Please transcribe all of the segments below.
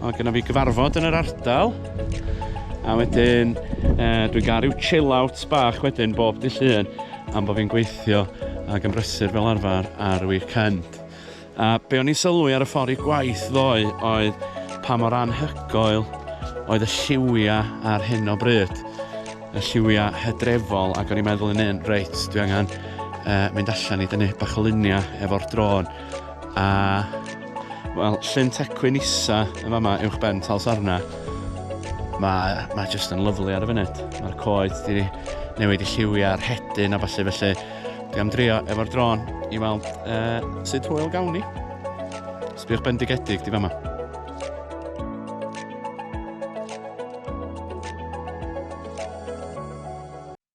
Mae gennym fi gyfarfod yn yr ardal. A wedyn, uh, dwi'n gael rhyw chill out bach wedyn bob dy llun am bod fi'n gweithio ac yn brysur fel arfer ar y weekend. A be o'n i'n sylwi ar y ffordd i gwaith ddoe oedd pa mor anhygoel oedd y lliwiau ar hyn o bryd. Y lliwiau hydrefol ac o'n i'n meddwl yn un, reit, dwi angen uh, mynd allan i dynnu bach o luniau efo'r drôn. A, wel, llyn tecwyn isa yn fama uwch ben tal sarna. Mae, mae jyst yn lyflu ar y funud. Mae'r coed di newid i lliwiau a'r hedyn a falle felly. Dwi am drio efo'r drôn i weld uh, sut hwyl gawn ni. Sbiwch bendigedig di fama.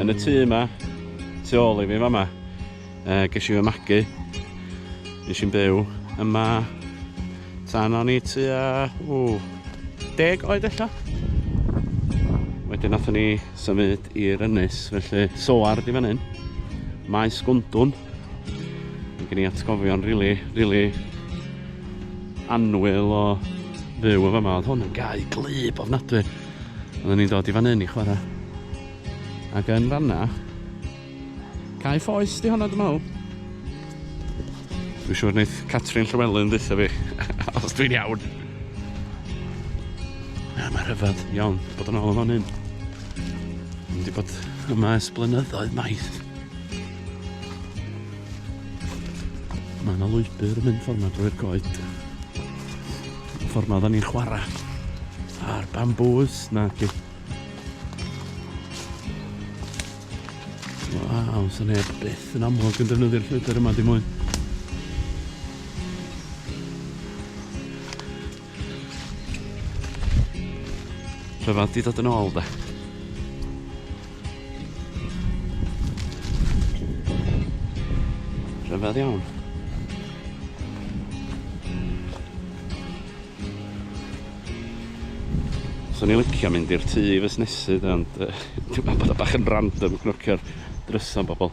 Yn y tŷ yma, tu ôl i fi fama, uh, ges i fy magu. Nes i'n byw yma tan o'n i tua, ww, deg oed ella. Wedyn nath ni symud i'r ynys, felly soar di fan hyn. Maes Gwndwn. Mae gen i atgofion rili, really, rili really anwyl o fyw o fama. Oedd hwn yn gau glyb ofnadwy. Oedden ni'n dod i fan hyn i chwarae. Ac yn fanna, cae ffoes di honna dwi'n meddwl. Dwi'n siŵr wneud Catrin Llywelyn ddeitha fi, os dwi'n iawn. Na, mae rhyfedd iawn bod yn ôl yn fan hyn. Dwi'n wedi bod yma ers blynyddoedd maith. Mae yna lwybr yn mynd ffordd yma drwy'r goed. Y ffordd ma oedden ni'n chwarae. A'r bambŵs na ti. Waw, sy'n neb byth yn amlwg yn defnyddio'r llwybr yma di mwyn. Rhyfedd di dod yn ôl da. Rhyfedd iawn. Swn i'n licio mynd i'r tŷ i fusnesu de, ond uh, dwi'n meddwl bod o bach yn random cnwcio'r drysa bobl.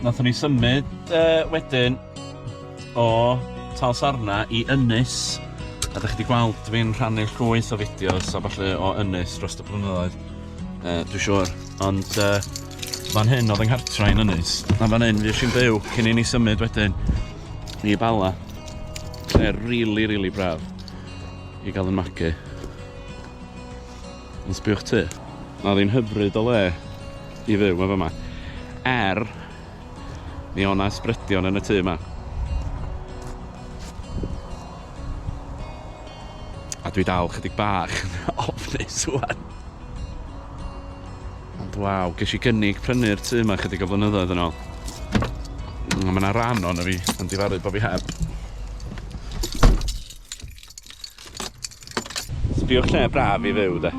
Nathon ni symud yy wedyn o Talsarna i Ynys a 'dach chi 'di gweld fi'n rhannu llwyth o fideos a ballu o Ynys dros y blynyddoedd yy dwi siŵr ond yy fan hyn o'dd yng nghartra i yn Ynys a fan hyn fuesh i'n byw cyn i ni symud wedyn i Bala lle rili rili braf i ga'l 'yn magu. Ond sbiwch tŷ. Mae o ddim hyfryd o le i fyw yn fama. Er, mi o' 'na ysbrydion yn y tŷ 'ma. A dwi dal chydig bach yn ofnus ŵan. Ond waw, gesh i gynnig prynu'r tŷ 'ma chydig o flynyddoedd yn ôl. A ma' 'na ran ono fi yn difaru bo' fi heb. Sbiwch lle braf i fyw de.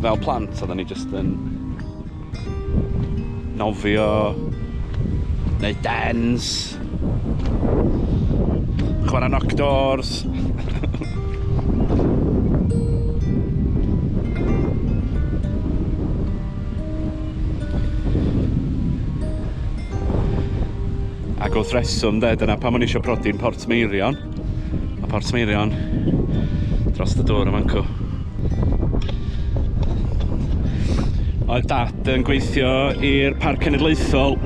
Fel plant oedden ni jyst yn nofio, neud dens, chwarae knock doors. Ac wrth reswm de, dyna pam o'n i eisiau prodi'n Portmeirion. Mae Portmeirion dros y dŵr yn fancw. Oedd dad yn gweithio i'r Parc Cenedlaethol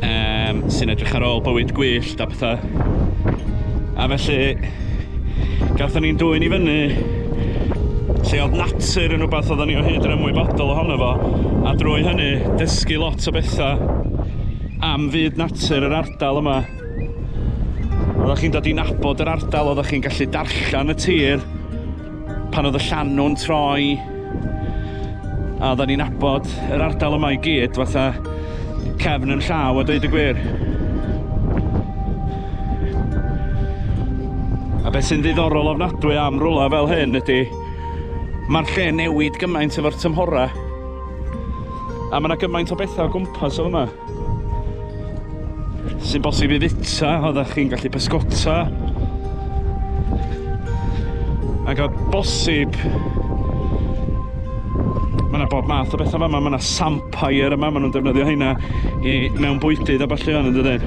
um, sy'n edrych ar ôl bywyd gwyllt a petha. A felly, gatho ni'n dwyn i fyny lle oedd natur yn rhywbeth oedden ni o hyd yn ymwybodol ohono fo, a drwy hynny dysgu lot o bethau am fyd natur yr ardal yma. Oeddech chi'n dod i nabod yr ardal, oeddech chi'n gallu darllen y tir, Pan oedd y llanw'n troi, a oedden ni'n abod yr ardal yma i gyd, fatha cefn yn llaw a dweud y gwir. A beth sy'n ddiddorol ofnadwy am rwla fel hyn ydy, mae'r lle newid gymaint efo'r tymhora. A mae yna gymaint o bethau o gwmpas o yma. Sy'n bosib i fita, oeddech chi'n gallu pysgota. Ac o bosib... Mae yna bob math o bethau fama, mae yna sampire yma, maen nhw'n defnyddio heina i mewn bwydydd a falle fan yn dydyn.